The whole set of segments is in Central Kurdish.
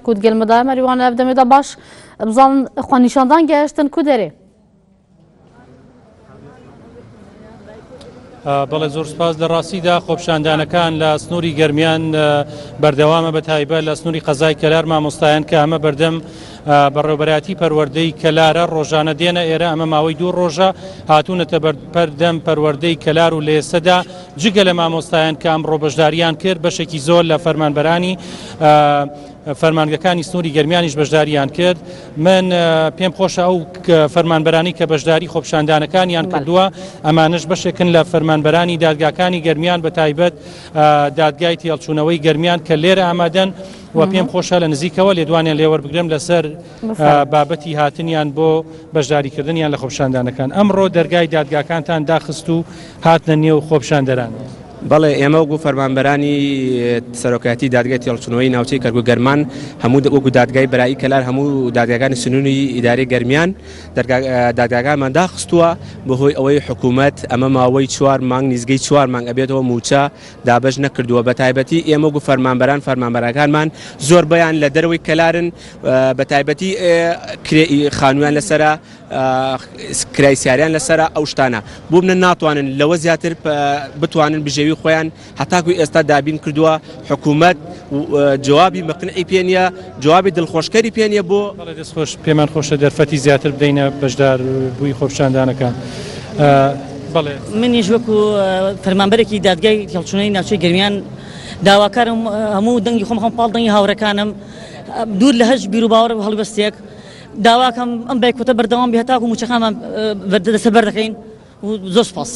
کود گەل مدای مەریوان ئەف دەمێدا باش بزان خۆ نیشاندان گەیشتن کو دەرێ بەڵێ زۆر سپاس لە ڕاستیدا خۆپشاندانەکان لە سنووری گەرمیان بەردەوامە بە تایبە لە سنووری قەزای کەلار مامۆستایان کە ئەمە بەردەم بەڕێوبەراتی پەروەردەی کەلارە ڕۆژانە دێنە ئێرە ئەمە ماوەی دوو ڕۆژە هاتوونەتە بەردەم پەروەردەی کەلار و لێسەدا جگە لە مامۆستایان کە ئەمڕۆ بەشدارییان کرد، بەشێکی زۆر لە فەرمانبەرانی فەرمانگەکانی سنووری گەرمیانیش بەشدارییان کرد. من پێم خۆشە ئەو فەرمانبەرانی کە بەشداری خۆپیشاندانەکانیان کردووە، ئەمانەش بەشێکن لە فەرمانبەرانی دادگاکانی گەرمیان بە تایبەت دادگای تێهەڵچوونەوەی گەرمیان کە لێرە ئامادەن و پێم خۆشە لە نزیکەوە لێدوانیان لێ وەربگرم لەسەر بابەتی هاتنیان بۆ بەشداریکردنیان لە خۆپیشاندانەکان ئەمڕۆ دەرگای دادگاکانتان داخست و هاتنە نێو خۆپیشاندەران. بەڵێ، ئێمە وەکو فەرمانبەرانی سەرۆکایەتی دادگای تێڵچنەوەی ناوچەی کەرگو گەرمان هەموو وەکو دادگای برایی کەلار هەموو دادگاگانی سنووری ئیداری گەرمیان دادگاگانمان داخستووە بەهۆی ئەوەی حکوومەت ئەمە ماوەی چوار مانگ نیزگەی چوار مانگ ئەبێتەوە موچە دابش نەکردووە بە تایبەتی ئێمە وەکو فەرمانبەران فەرمانبەرەکانمان زۆر بیان لە دەروی کەلارن بە تایبەتی کرێ خانوویان لەسرە کرای سیاریان لەسرە ئەو شتانە بۆ منە ناتوانن لەوە زیاتر بتوانن بژێوی خۆیان هەتاکو ئێستا دابین کردووە حکوومەت جوابی مەقنعی پێ نیە جوابی دڵخۆشکەری پێ نیە بۆ خۆش پێمان خۆشە دەرفەتی زیاتر بدەینە بەشدار بووی خۆپشاندانەکە. بەڵێ منیش وەکو فەرمانبەرێکی دادگای هەڵچونەی ناوچەی گەرمیان داواکارم هەموو دەنگی خۆم خۆم پاڵ دەنگی هاوڕەکانم. دوور لە هەرچ بیر و باوەڕ و هەڵوێستێک داواکەم ئەم بایکۆتە بەردەوام بێ هەتاکو مووچەکانمان دەسە بەر دەکەین و زۆر سپاس.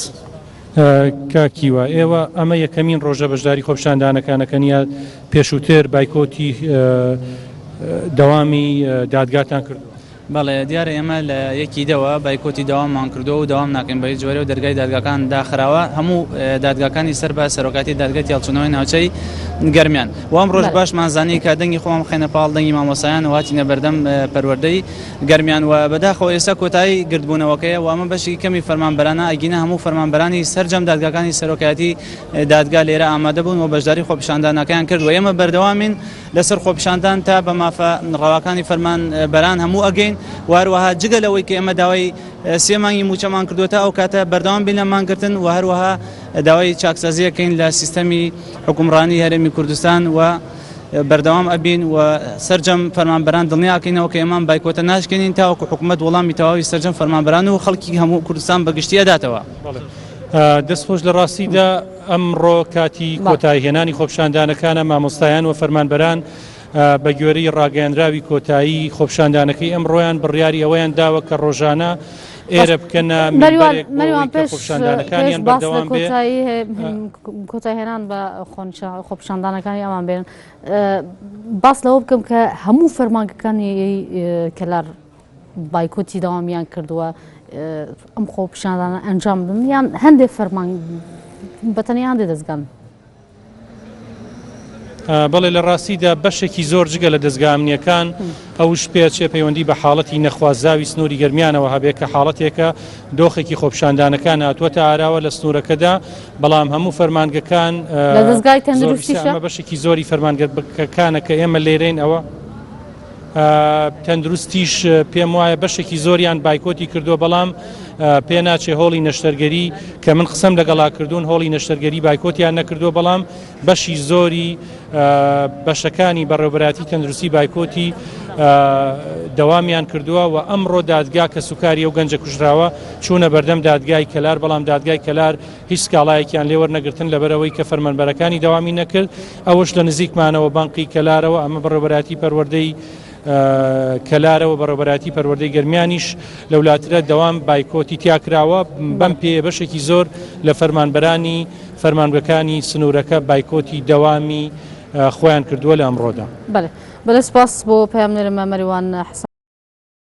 کاکیوە ئێوە ئەمە یەکەمین ڕۆژە بەشداری خۆپشاندانەکانەکەنیە پێشووتر بایکۆتی دەوامی دادگاتان کرد. بەڵێ، دیارە ئێمە لە یەکی دەوە بایکۆتی دەوامان کردووە و دەوام ناکەین بەهیچ جۆرێ و دەرگای دادگاکان داخراوە، هەموو دادگاکانی سەر بە سەرۆکایەتی دادگای تێهەڵچوونەوەی ناوچەی گەرمیان و ئەمڕۆش باشمان زانی کە دەنگی خۆمان بخەینە پاڵ دەنگی مامۆستایان و هاتینە بەردەم پەروەردەی گەرمیان و بەداخەوە ئێستا کۆتایی گردبوونەوەکەیە و ئەمە بەشێکی کەمی فەرمانبەرانە ئەگینا هەموو فەرمانبەرانی سەرجەم دادگاکانی سەرۆکایەتی دادگا لێرە ئامادەبوون و بەشداری خۆپیشاندانەکەیان کرد و ئێمە بەردەوامین لەسەر خۆپیشاندان تا بە مافە ڕەواکانی فەرمان بەران هەموو ئەگەین وهەروەها جگە لەوەی کە ئێمە داوای سێ مانگی مووچەمان کردووە تا ئەو کاتە بەردەوام بین لە مانگرتن و هەروەها داوای چاکسازیەکەین لە سیستەمی حکومڕانی هەرێمی کوردستان و بەردەوام ئەبین و سەرجەم فەرمانبەران دڵنیاکەینەوە کە ئێمان بایکۆتە ناشکێنین تاوەکو حکومەت وەڵامی تەواوی سەرجەم فەرمانبەران و خەڵکی هەموو کوردستان بەگشتی ئەداتەوە. دەست خۆش لە ڕاستیدا ئەمڕۆ کاتی کۆتایی هێنانی خۆپیشاندانەکانە، مامۆستایان و فەرمانبەران بەگوێرەی ڕاگەیەنراوی کۆتایی خۆپیشاندانەکەی ئەمڕۆیان بڕیاری ئەوەیان داوە کە ڕۆژانە ئێرە بکەنە مینبەرێک بۆ ئەوەی کە خۆپیشاندانەکانیان بەردەوام بێت. بایکۆتی دەوامیان کردووە ئەم خۆ پیشاندانە ئەنجام بدن یان هەندێک فەرمان بەتەنیا هەندێک دەستگان بەڵێ لە ڕاستیدا بەشێکی زۆر جگە لە دەستگامنیەکان ئەوش پێچێ پەیوەندی بە حاڵەتی نەخوازاوی سنووری گەرمیانەوە هەبێت کە حاڵەتێکە دۆخێکی خۆپشاندانەکان هاتووەتە ئاراوە لە سنوورەکەدا بەڵام هەموو فەرمانگەکان بەشێکی زۆری فەرمانگەکانە کە ئێمە لێرەین ئەوە تەندروستیش پێم وایە بەشێکی زۆریان بایکۆتی کردووە بەڵام پێ ناچێ هۆڵی نەشتەرگەری کە من قسم لەگەڵا کردوون هۆڵی نەشتەرگەری بایکۆتیان نەکردووە بەڵام بەشی زۆری بەشەکانی بەڕێوبەراتی تەندروستی بایکۆتی دەوامیان کردووە و ئەمڕۆ دادگا کە سوکاری و گەنجە کوژراوە چوونە بەردەم دادگای کەلار بەڵام دادگای کەلار هیچ سکاڵایەکیان لێوەرنەگرتن لەبەرەوەی کە فەرمەنبەرەکانی دەوامی نەکرد ئەوەش لە نزیکمانەوە بەنقی کەلارەوە ئەمە بەڕێوەبەرایەتی پەروەردەی کەلارەوە بەڕێوەبەرایەتی پەروەردەی گەرمیانیش لەولاترە دەوام بایکۆتی تیا کراوە بەم پێیە بەشێکی زۆر لە فەرمانبەرانی فەرمانگەکانی سنوورەکە بایکۆتی دەوامی خۆیان کردووە لە ئەمڕۆدا. بەلێ بەلێ سوپاس بۆ پەیامنێرم مەریوان حسن.